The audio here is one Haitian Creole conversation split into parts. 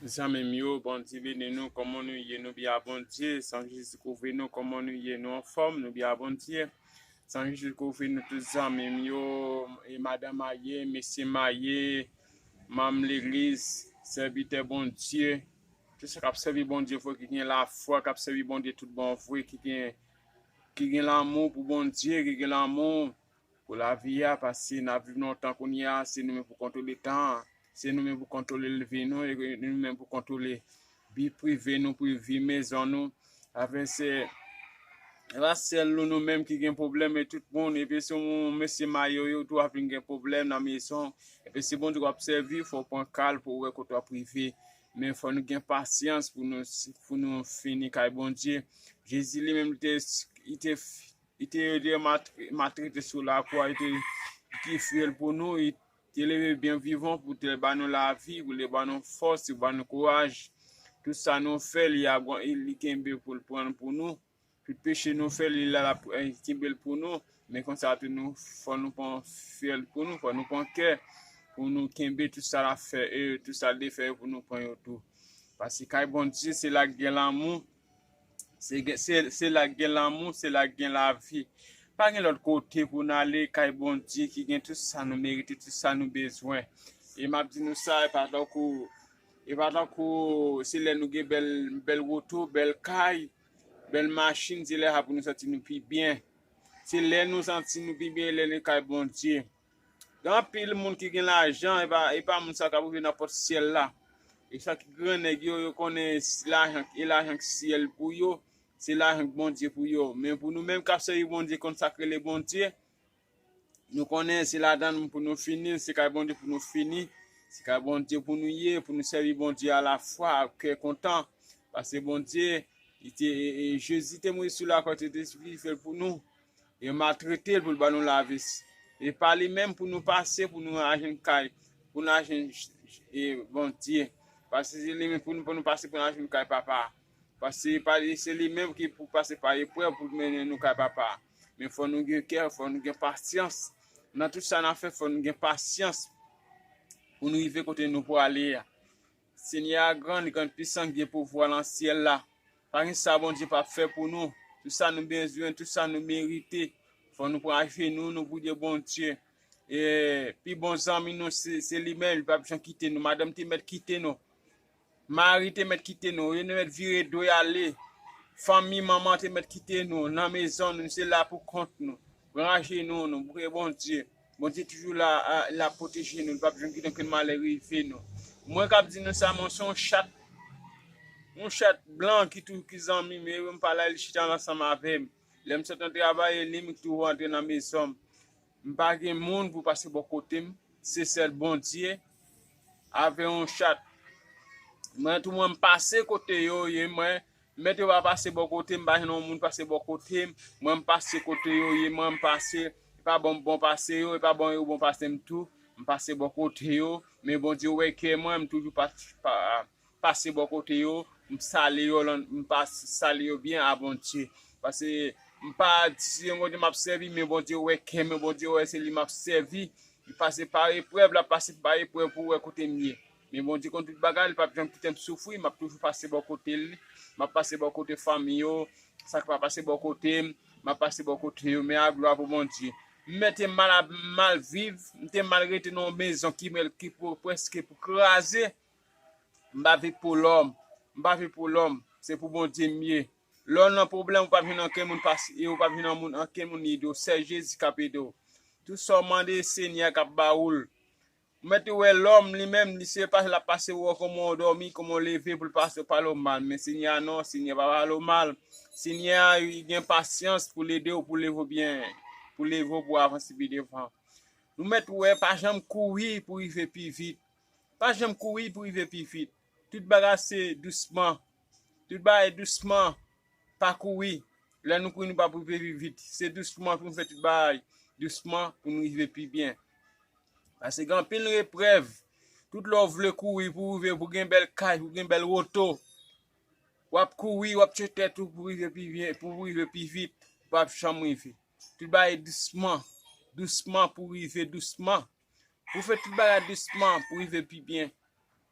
Zanmim yo bondye beni nou koman nou ye nou bya bondye san jezi kouvri nou koman nou ye nou anfom nou bya bondye san jezi kouvri nou tout zanmim yo e madan maye mesye maye manm legliz sèvitè bondye tout sa kap sèvi bondye vre ki gen lafwa kap sèvi bondye tout bon vre ki gen ki gen lanmou pou bondye ki gen lanmou Pou lavi a, paske n ap viv lontan kounye a, se nou menm pou kontwole tan an, se nou menm pou kontwole leve nou, e nou menm pou kontwole vi prive nou, vi mezon nou. Afè se pa sèl nou nou menm ki gen pwoblèm, men tout moun. Epi si w yon mesye mayoyo tou w ap vin gen pwoblèm nan mezon. Epi si Bondye w ap sèvi, fò w pran ka l pou w wè kote w ap rive. Men fò nou gen pasyans pou nou fini kay Bondye. Jezi li menm li te. Li te rete matrete sou lakwa, li te ki fiyèl pou nou, li te leve byen vivan pou te ba nou lavi, pou te ba nou fòs, pou te ba nou kouraj. Tout sa nou fè, li kenbe pou l pran l pou nou. Tout peche nou fè, li la lap kenbe l pou nou. Men konsa tou nou fò nou pran fiyèl pou nou, fò nou pran kè pou nou kenbe tout sa lap fè e tout sa l te fè pou nou pran yo tou. Pase kay Bondye se la k gen lanmou. Se la k gen lanmou, se la k gen lavi. Pa gen lòt kote pou n ale, kay Bondye ki gen tout sa nou merite, tout sa nou bezwen. E m ap di nou sa, e pa tankou, e pa tankou se lè nou gen bèl, bèl woto, bèl kay, bèl machin, se lè sa pou nou santi nou pi byen. Se lè nou santi nou pi byen, lè nou kay Bondye. Gen anpil moun ki gen lajan e pa moun sa yo kap rive nan pòt syèl la. E sa ki gran nèg yo, yo konnen lajan e lajan k syèl pou yo, se lajan k Bondye pou yo. Men pou nou menm kap sèvi Bondye konn sak rele Bondye, nou konnen se ladann l pou nou fini, se kay Bondye pou nou fini, se kay Bondye pou nou ye, pou nou sèvi Bondye a la fwa ak kè kontan. Pase Bondye, li te, Jezi te mouri sou lakwa, li te sakrifye l pou nou. Yo maltrete l pou l ban nou lavis. E pa li menm pou nou pase pou nou al jwenn kay, pou nou al jwenn Bondye. Pase se li menm pou nou pase pou nou al jwenn kay Papa a. Pase se li menm ki pou pase pa eprèv pou l mennen nou kay Papa a. Men fò nou gen kè, fò nou gen pasyans. Nan tout sa n ap fè fò nou gen pasyans pou nou rive kote nou prale a. Senyè a gran, li gran pisan, li gen pouvwa lan syèl la. Pa gen sa Bondye pap fè pou nou. Tout sa nou bezwen, tout sa nou merite. Fò nou pran ajenou nou pou di Bondye, pi bon zanmi nou se li menm, li pap janm kite nou. Madanm te mèt kite nou. Mari te mèt kite nou. Yo te mèt vire do yo ale. Fanmi, manman te mèt kite nou. Nan mezon nou, nou se la pou kont nou. Pran ajenou nou pou Bondye. Bondye toujou la lap pwoteje nou li pap janm kite okenn malè rive nou mwen kap di nou sa mwen se yon chat yon chat blan ki tou ki zanmim e lèm pala li chita ansanm avèm lèm sot nan travay e lim tou rantre nan mezonm m pa gen moun pou pase bò kotem se sèl Bondye avè yon chat mwen tou mwen pase kote yo ye mwen Mèt yo pa pase bò kotem pa jwenn yon moun pase bò kotem mwen mpase kote yo ye mwen mpase epa bon mpbon pase yo epa bon yo bon pasem tou mpase bò kote yo men Bondye wè kè mwen mtoujou pase bò kote yo msale yo msale yo byen a Bondye pase mpa se yon kote map sèvi men Bondye wè kè mwen Bondye wè se li map sèvi mpase par eprèv lap pase par eprèv pou wè kotem ye Men Bondye konn tout bagay, li pap janm kite m soufri, map toujou pase bò kote l, map pase bò kote fanmi yo, sa ki pa pase bò kote m, map pase bò kote yo, men a glwa pou Bondye. M mèt te mal ap mal viv, m te mal rete nan yon mezon ki mèl ki pou prèske pou kraze, m pa viv pou lòm, m pa viv pou lòm, se pou Bondye m ye. Lè w nan pwoblèm ou pap jwenn anken moun pase e ou pap jwenn nan moun anken moun ede w, sèl Jezi kap ede w. Tout sa w mande Senyè a kap ba ou l. Ou mèt ou wè lòm li menm li se pase lap pase wè w kòman w dòmi kòman w leve pou l pase w pale w mal men Senyè a non Senyè pa pale w mal Senyè a li gen pasyans pou l ede w pou leve w byen pou leve w pou w avanse pi devan nou mèt wè pa janm kouri pou rive pi vit pa janm kouri pou rive pi vit tout bagay se dousman Tout bagay dousman, pa kouri. Lè nou kouri nou pap rive pi vit. Se dousman pou nou fè tout bagay, dousman pou nou rive pi byen. Pase gen anpil reprèv, tout lè ou vle kouri pou rive pou gen bèl kay, pou gen bèl woto, wap kouri, wap tchye tèt ou pou rive pi byen, pou rive pi vit, ou pap janm rive. Tout bagay dousman, dousman pou rive dousman. Pou fè tout bagay dousman pou rive pi byen.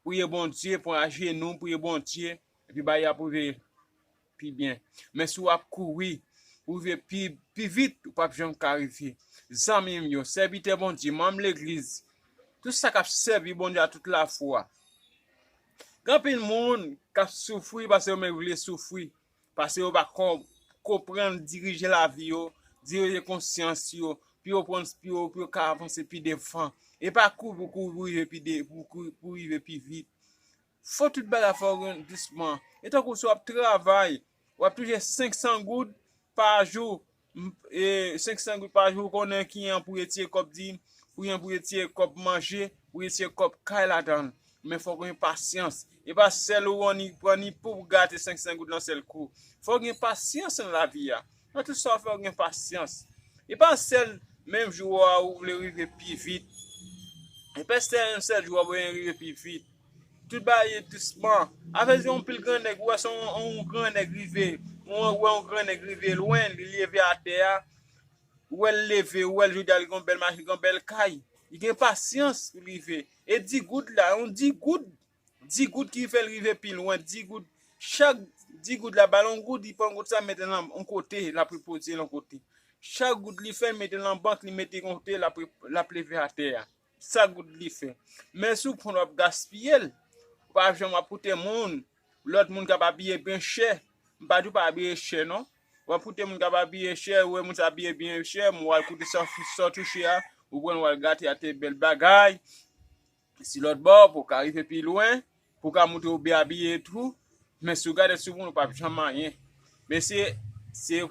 Priye Bondye, pran ajenou, priye Bondye, epi bagay yo ap rive pi byen. Men si w ap kouri pou rive pi vit, ou pap janm ka rive. Zanmi m yo, sèvitè Bondye, manm legliz, tout sa k ap sèvi Bondye ak tout lafwa. Gen anpil moun k ap soufri paske yo menm vle soufri. Pase yo pa kon konprann dirije lavi yo, dirije konsyans yo, pou yo pran pou yo pou yo ka avanse pi devan. E pa kouri pou kouri pou rive pi de pou kouri pou rive pi vit. Fò tout bagay fò yo gen dousman. E tankou si w ap travay, w ap touche 500 goud pa jou, E 500 goud pa jou ou konnen kiyan pou retire kòb di, kiyan pou retire kòb manje, pou retire kòb kay ladann. Men fòk ou gen pasyans. E pa sèl ou an ni pran ni pouw gate 500 goud nan sèl kou. Fòk gen pasyans nan lavi a. Nan tout sa ou fè ou gen pasyans. E pa sèl menm jou a ou vle rive pi vit. E pa sèl jou a ou vle rive pi vit. Tout bagay ye dousman. Afè se yon pil gran nèg ou wè se yon gran nèg rive ou wè yon gran nèg rive lwen li leve atè a ou wè l leve ou wè l jodi a li gen yon bèl machin li gen yon bèl kay li gen pasyans pou l rive e di goud la yon di goud di goud ki fè l rive pi lwen di goud chak di goud la ba l yon goud li pran goud sa mete l nan yon kote l ap repoze l yon kote chak goud li fè l mete l nan bank li mete l yon kote l ap leve atè a. Sa good li fè. Men sou pon wap gaspiyel. Ou pa janm wap koute moun. Lot moun kap abiye byen chè. M pa di ou pa abiye chè non. Wap koute moun kap abiye chè, ou wè moun sa abiye byen chè, men wal koute sa w touche a, ou pranl wal gate a te bel bagay. Si lot bò, pou w ka rive pi lwen, pou w ka montre ou byen abiye tou. Men si w gade sou moun ou pap janm anyen. Men se se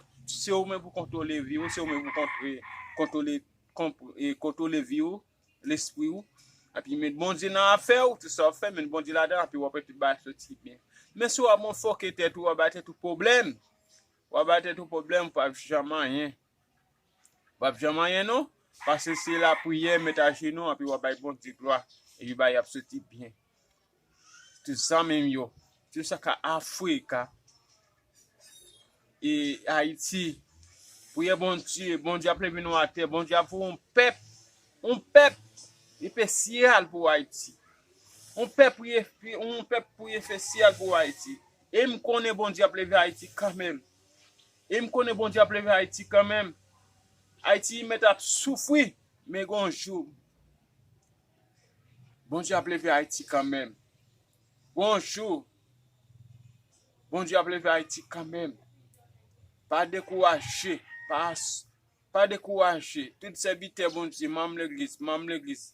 ou menm pou kontwole vi ou, se ou menm pou kontwole Kontwole vi ou, lespri ou. Epi met Bondye nan afè ou, tout sa wap fè met Bondye ladan epi wap wè tout bagay ap soti byen. Men si wap motfoke tèt ou, wap bay tèt ou pwoblèm. Wap bay tèt ou pwoblèm, wap janm anyen. Wap janm anyen non, pase se lapriyè met ajenou epi wap bay Bondye glwa epi bagay ap soti byen. Tout sa menm yo. Tout sa ka Africa. E Haiti. Priye Bondye. Bondye ap leve nou ate. Bondye ap voye yon pep. Yon pep. Epecial pou Haiti. Yon pep pou epecial pou Haiti. E m konnen Bondye ap leve Haiti kanmenm. E m konnen Bondye ap leve Haiti kanmenm. Haiti met ap soufri. Men gon jou. Bondye ap leve Ayiti kanmenm. Bonjour Bondye ap leve Ayiti kanmenm. Pa dekouraje, pa dekouraje. Tout sèvitè Bondye, manm legliz, manm legliz,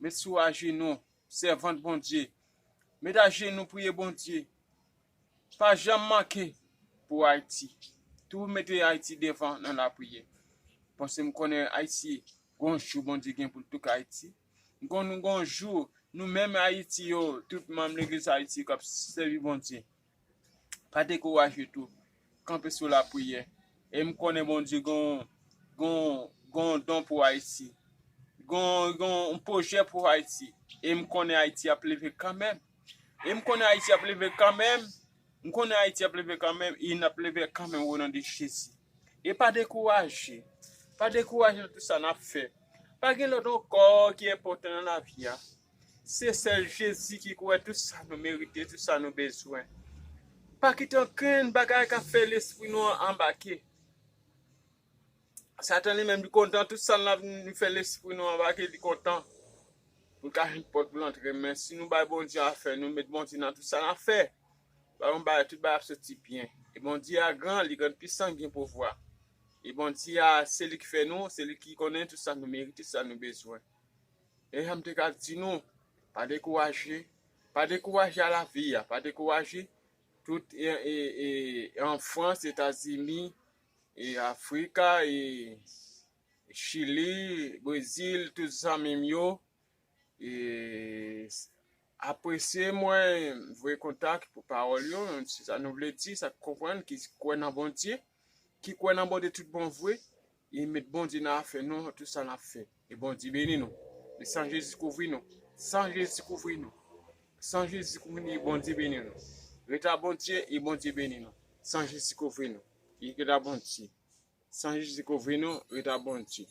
met sou ajenou, sèvant Bondye, met ajenou priye Bondye. Pa janm manke pou Ayiti. Toujou mete Ayiti devan nan lapriyè. Paske m konnen Ayiti Gon jou Bondye gen pou l touk Ayiti. Gon gon jou nou menm Ayiti yo, tout manm legliz Ayiti k ap sèvi Bondye pa dekouraje tou, kanpe sou lapriyè. E m konnen Bondye gon gon gon don pou Ayiti. Gon gon pwojè pou Ayiti. E m konnen Ayiti ap leve kanmenm. E m konnen Ayiti ap leve kanmenm M konnen Ayiti ap leve kanmenm e nap leve kanmenm o non de Jezi. E pa dekouraje. Pa dekouraje nan tout sa nap fè. Pa gen lòt ankò ki enpòtan nan lavi a. Se sèl Jezi ki konnen tout sa nou merite, tout sa nou bezwen. Pa kite okenn bagay kap fè lespri nou an anbake. Satan li menm li kontan tout sa nap nou fè lespri nou anbake li kontan poul ka jwenn pòt poul antre men si nou bay Bondye afè nou met Bondye nan tout sa nap fè bay yon bagay tout bagay ap soti byen e Bondye a gran li gran pisan li gen pouvwa e Bondye a se li ki fè nou se li ki konnen tout sa nou merite sa nou bezwen e janm te ka di nou pa dekouraje pa dekouraje a lavi a pa dekouraje tout e e e an Frans, Etazini. E africa e chili brezil tout zanmim yo e apresye mwen voye kontak pou pawòl yo se sa nou vle di sak konprann ki kwè nan bondye ki kwè nan bondye tout bon vre e met bondye nan afè nou tout sa nap fè. Ke Bondye beni nou. Ke san Jezi kouvri nou. San Jezi kouvri nou. San Jezi kouvri nou e Bondye beni nou. Ret la Bondye e Bondye beni nou. San Jezi kouvri nou. Ret la Bondye. San Jezi kouvri nou. Ret la Bondye.